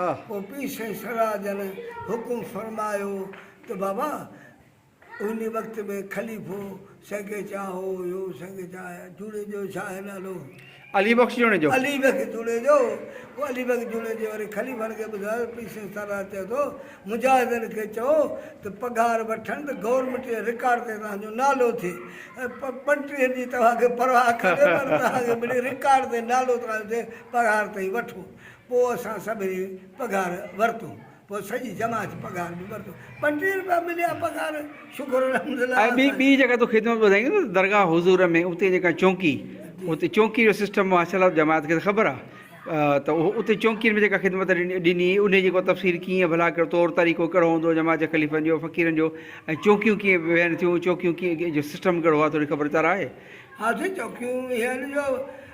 پوء پير سائين سرها جن حڪم فرمايو ته بابا انهي وقت ۾ خليفو سنگي چانهو هيو، سنگي چانهه جوڻيجو جو ڇا آهي نالو؟ علي بخش جوڻيجو. علي بخش جوڻيجو، پوء علي بخش جوڻيجي وري خليفن کي ٻڌايو، پير سائين سرها چئي ٿو مجاهدن کي چئو ته پگهار وٺن ته گورنمينٽ جي رڪارڊ تي توهان جو نالو ٿئي، پنٽريهن جي توهان کي پرواهه ڪانهي پر توهان کي ملي رڪارڊ تي نالو توهان جو ٿئي، پگهار تائين وٺو، پوء اسان سڀني پگهار ورتو. پوء سڄي جماعت پگهار به ورتو. ٻٽيهه روپيا مليا پگهار شڪر الحمدلله اسان. ٻي جيڪا تو خدمت ٻڌائي نه ته درگاهه حضور ۾ اتي جيڪا چونڪي اتي چونڪي جو سسٽم ماشاء الله جماعت کي ته خبر آ ته اهو اتي چونڪين ۾ جيڪا خدمت ڏني انهي جيڪو تفصيل ڪيئن ڀلا ڪهڙو طور طريقو ڪهڙو هوندو جماعت جي خليفن جو فقيرن جو ۽ چونڪيون ڪيئن ويهن ٿيون چونڪيون ڪيئن جو سسٽم ڪهڙو آ ٿوري خبر چار آهي. ها سائين چونڪيون ويهن جو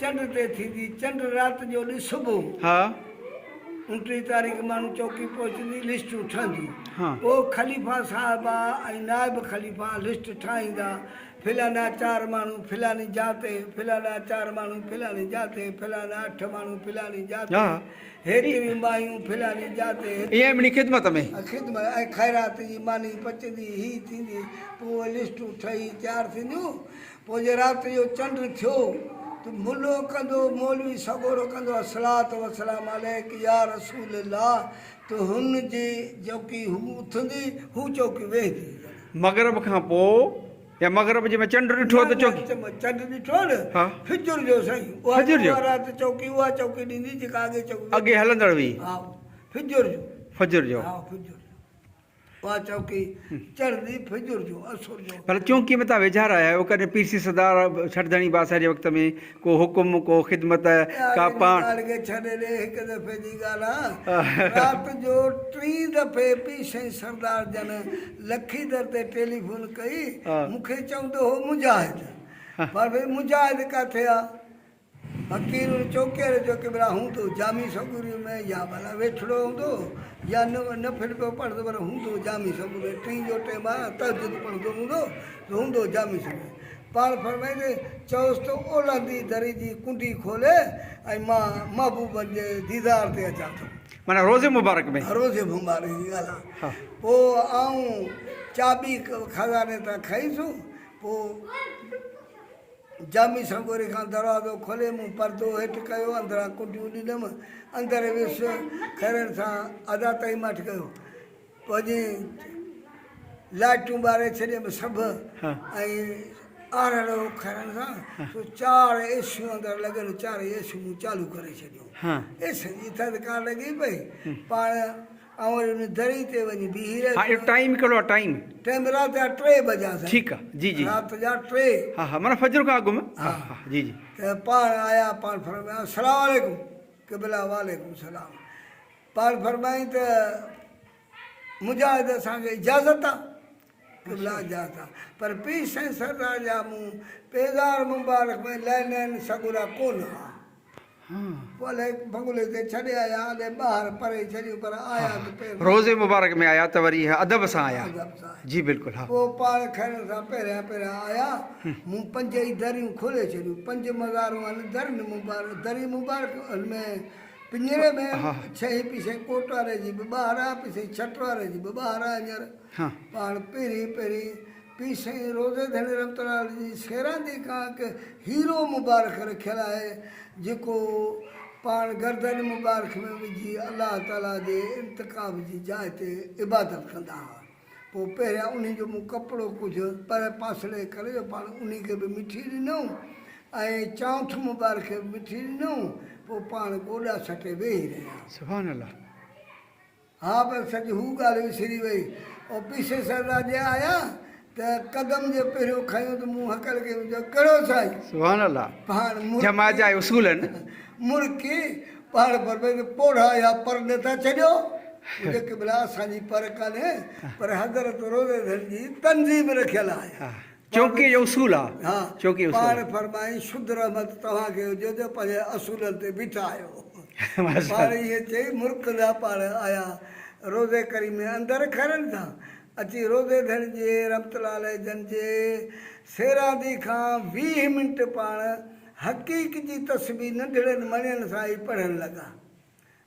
چنڊ تي ٿيندي چنڊ رات جو ڏس صبح. ها. اڻٽيهين تاريخ ماڻهو چوڪي پهچندي لسٽون ٺهندي پوء خليفا صاحب ۽ نائب خليفا لسٽ ٺاهيندا فلانا چار ماڻهو فلاني جاء تي فلانا چار ماڻهو فلاني جاء تي فلانا اٺ ماڻهو فلاني جاء تي هيڏيون مايون فلاني جاء تي هيڏيون خدمت ۾ خدمت ۽ خيرات جي ماني پچندي هي ٿيندي پوء لسٽون ٺهي تيار ٿينديون پوء جي رات جو چنڊ ٿيو ته ملو ڪندو مولوي سڳورو ڪندو الصلوة والسلام عليك يا رسول الله ته هن جي چوڪي هو اٿندي هو چوڪي ويهندي يعني. مغرب کان پوء يا مغرب جي ۾ چنڊ ڏٺو ته چوڪي. نه نه چنڊ ڏٺو نه فجر جو سائين فجر جو اها رات چوڪي اها چوڪي ڏيندي جيڪا اڳي چوڪي اڳي هلندڙ هئي ها فجر جو فجر جو ها فجر جو. اها چوڪي چڙهندي فجر جو عصر جو. پر چونڪي متان ويجها رهيا آهيو، ڪڏهن پيرسي سردار ڇٺ ڌڻي باسر جي وقت ۾ ڪو حڪم، ڪو خدمت، ڪا پاڻ. اهڙي ڳالهه کي ڇڏي ڏي، هڪ دفعي جي ڳالهه آهي، رات جو ٽين دفعي پيرسي سردار جن لکي در تي ٽيليفون ڪئي، مون کي چوندو هو مجاهد، پر مجاهد ڪاٿي آ؟ فقير چوڪير جو ڪيمرا هوندو جامي سوگوري ۾ يا ڀلا ويٺڙو هوندو يا نه نه ڦر پيو پڙهندو پر هوندو جامي سوگوري ٽين جو ٽيم آ تهجد پڙهندو هوندو ته هوندو جامي سوگوري پاڻ فرمائيندي چئوس ته اولهندي دري جي ڪنڊي کولي ۽ مان محبوبن جي ديدار تي اچان ٿو. معنيٰ روضي مبارڪ ۾. ها روضي مبارڪ جي ڳالهه آ. پوء آئون چاٻي خزاني تان کئي سون پوء. جامي سنگوري کان دروازو کولي مون پردو هيٺ ڪيو اندران ڪنڊيون ڏنم اندر ويس خيرن سان ادا تائين ماٺ ڪيو پوڄي لائٽون ٻاري ڇڏيم سڀ ۽ آرڙو کرن سا سو چار ايسيون اندر لڳل چار ايسيون چالو ڪري ڇڏيو ايسن جي ٿڌڪار لڳي پئي پاڻ آئون وري ان دري تي وڃي بيهي رهيس. ها اهو ٽائيم ڪهڙو آهي ٽائيم. ٽائيم رات جا ٽي بجا سائين. ٺيڪ آ جي جي. رات جا ٽي. ها ها معنيٰ فجر کان اڳ م. ها ها جي جي. ته پاڻ آيا پاڻ فرمايائون السلام عليڪم قبلا وعليڪم السلام پاڻ فرمايائين ته مجاهد اسان کي اجازت آ. قبلا جاتا پر پير سائين سرناھ جا مون پيزار مبارڪ ۾ لينين سڳورا ڪون ھئا پوء الائي بنگلي تي ڇڏي آيا اڏي ٻاھر پري ڇڏيون پر آيا ته پير مبارڪ روضي مبارڪ ۾ آيا ته وري ادب سان آيا ادب سان آيا جي بلڪل ھا پوء پاڻ کڻڻ سان پهريان پهريان آيا مون پنج ئي دريون کولي ڇڏيون پنج مزارون ھن درين مبارڪ درين مبارڪ ھن ۾ پڃري ۾ ھا ھا ڇهين پيسي ڪوٽواري جي به ٻاھر آ پيسي ڇٽواري جي به ٻاھر آ ھينئر پاڻ پهرين پهرين پير سائين روضي ڌڻي رحمت الله عليه جي سيراندي کان هڪ هيرو مبارڪ رکيل آهي جيڪو پاڻ گردن مبارڪ ۾ وجهي الله تعاليٰ جي انتخاب جي جاء تي عبادت ڪندا هئا پوء پهريان انهي جو مون ڪپڙو ڪجهه پرهه پاسڙي ڪري جو پاڻ انهي کي به مٺي ڏنائون ۽ چانئٺ مبارڪ کي به مٺي ڏنائون پوء پاڻ گوڏا سٽي ويهي رهيا. سبحان الله. ها پر سڄ هو ڳالهه وسري وئي. آفيسر سر راڄي آيا ته قدم جو پهريون کنيو ته مون هڪل ڪيم چيو ڪهڙو سائين! سبحان الله! پاڻ مڙڪي جماعت جا اصول آهن. مڙڪي پاڻ فرمائي ته پوڙها اها پر نه ٿا ڇڏيو؟ پڇيو قبلا اسان جي پر ڪانهي پر حضرت روزه ڌڻ جي تنظيم رکيل آهي. چونڪي اهو اصول آ. ها، پاڻ فرمائي، شد رحمت توهان کي هجي جو پنهنجن اصولن تي بيٺا آهيو. ته پاڻ ائين چئي مرڪ ڏانهن پاڻ آيا. روضي ڪريم ۾ اندر کهرن سان اچي روضي ڌڻي جي رحمت الله عليه جن جي سيراندي کان ويهه منٽ پاڻ حقيق جي تسبيح ننڍڙن مڻين سان ئي پڙهڻ لڳا.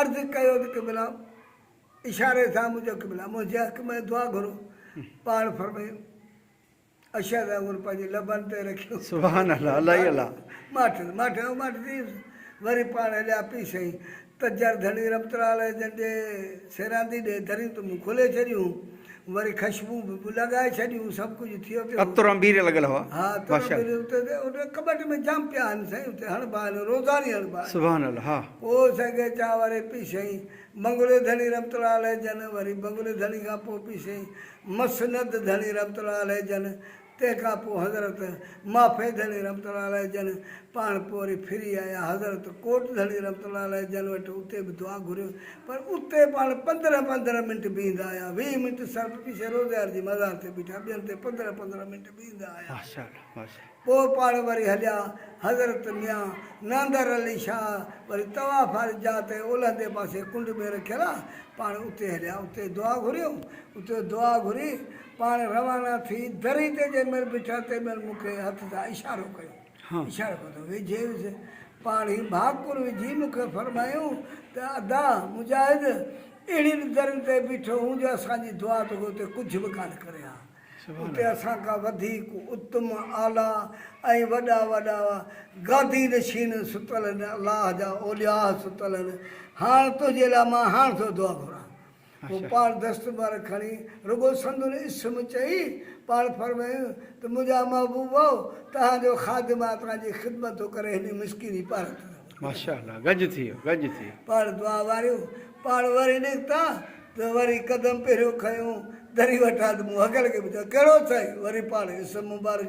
عرض ڪيو ته قبلا! اشاري سان منهنجو قبلا منهنجي حق ۾ دعا گهرو. پاڻ فرمايو، اشهد ۽ هن پنهنجي لبن تي رکيو ته ماٺس، ماٺ ۽ ماٺ ٿيس. وري پاڻ هليا پي سائين تجر ڌڻي رحمت الله عليه جن جي سيراندي ڏي دريون ته مون کولي ڇڏيون. وري خشبون به لڳائي ڇڏيون سڀ ڪجهه ٿيو پيو هو. عطر انبير لڳل هئا. ها عطر ماشاء انبير الله. اتي ته ان ڪٻٽ ۾ جام پيا آهن سائين اتي هڻبا آهن روزاني هڻبا آهن. سبحان الله ها. پوء سائين غيچان واري پي سائين بنگلي ڌڻي رحمت الله عليه جن وري بنگلي ڌڻي کان پوء پي سائين مسند ڌڻي رحمت الله عليه جن تنهن کان پوء حضرت مافي ڌڻي رحمة الله عليه جن پاڻ پوء وري ڦري آيا حضرت ڪوٽ ڌڻي رحمة الله عليه جن وٽ اتي به دعا گهريو پر اتي پاڻ پندرهن پندرهن منٽ بيهندا آيا ويهه منٽ صرف پيشي روزيار جي مزار تي بيٺا ٻين تي پندرهن پندرهن منٽ بيهندا آيا پوء پاڻ وري هليا حضرت ميان ناندر علي شاهه وري طواف واري جاء تي اولهندي پاسي ڪنڊ ۾ رکيل آ پاڻ اتي هليا اتي دعا گهريو اتي دعا گهري پاڻ روانا ٿي دري تي جنهن مهل بيٺا تنهن مهل مون کي هٿ سان اشارو ڪيو اشارو ڪيو ته ويجهيس پاڻ ئي ڀاڪر وجهي مون کي فرمايائون ته ادا مجاهد اهڙين درين تي بيٺو هون جو اسان جي دعا توکي اتي ڪجهه به ڪانه ڪري ها اتي اسان کان وڌيڪ اتم اعليٰ ۽ وڏا وڏا گادي نشين ستل هن الله جا اولياء ستل هن هاڻ تنهنجي لاء مان هاڻ ٿو دعا گهران. هو پاڻ دستبر کڻي رڳو سندن اسم چئي پاڻ فرمايائون ته منهنجا محبوبؤ! توهان جو خادم آ توهان جي خدمت ٿو ڪري هني مسڪيني پارت ٿو رهون. ماشاء الله گج ٿيو گج ٿيو. پاڻ دعا واريون پاڻ وري نڪتا ته وري قدم پهريون کنيو دري وٽان ته مون هڪڙڪي پڇيو ڪهڙو ٿئي وري پاڻ اسم مبارڪ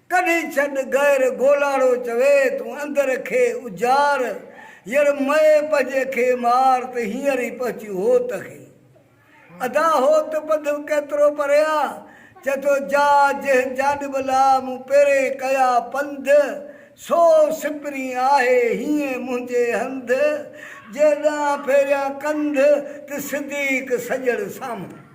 ڪڍي ڇڏ غير گولاڙو چوي تون اندر کي اجار ير مئي پنهنجي کي مار ته هينئر ئي پهچيون هوت کي ادا هوت پنڌ ڪيترو پري آ چئي ٿو جا جنهن جانب لا مون پيرين ڪيا پنڌ سو سپرين آهي هينئن منهنجي هنڌ جي ڏانهن ڦيريان ڪنڌ ته صديق سڄڻ سامهون.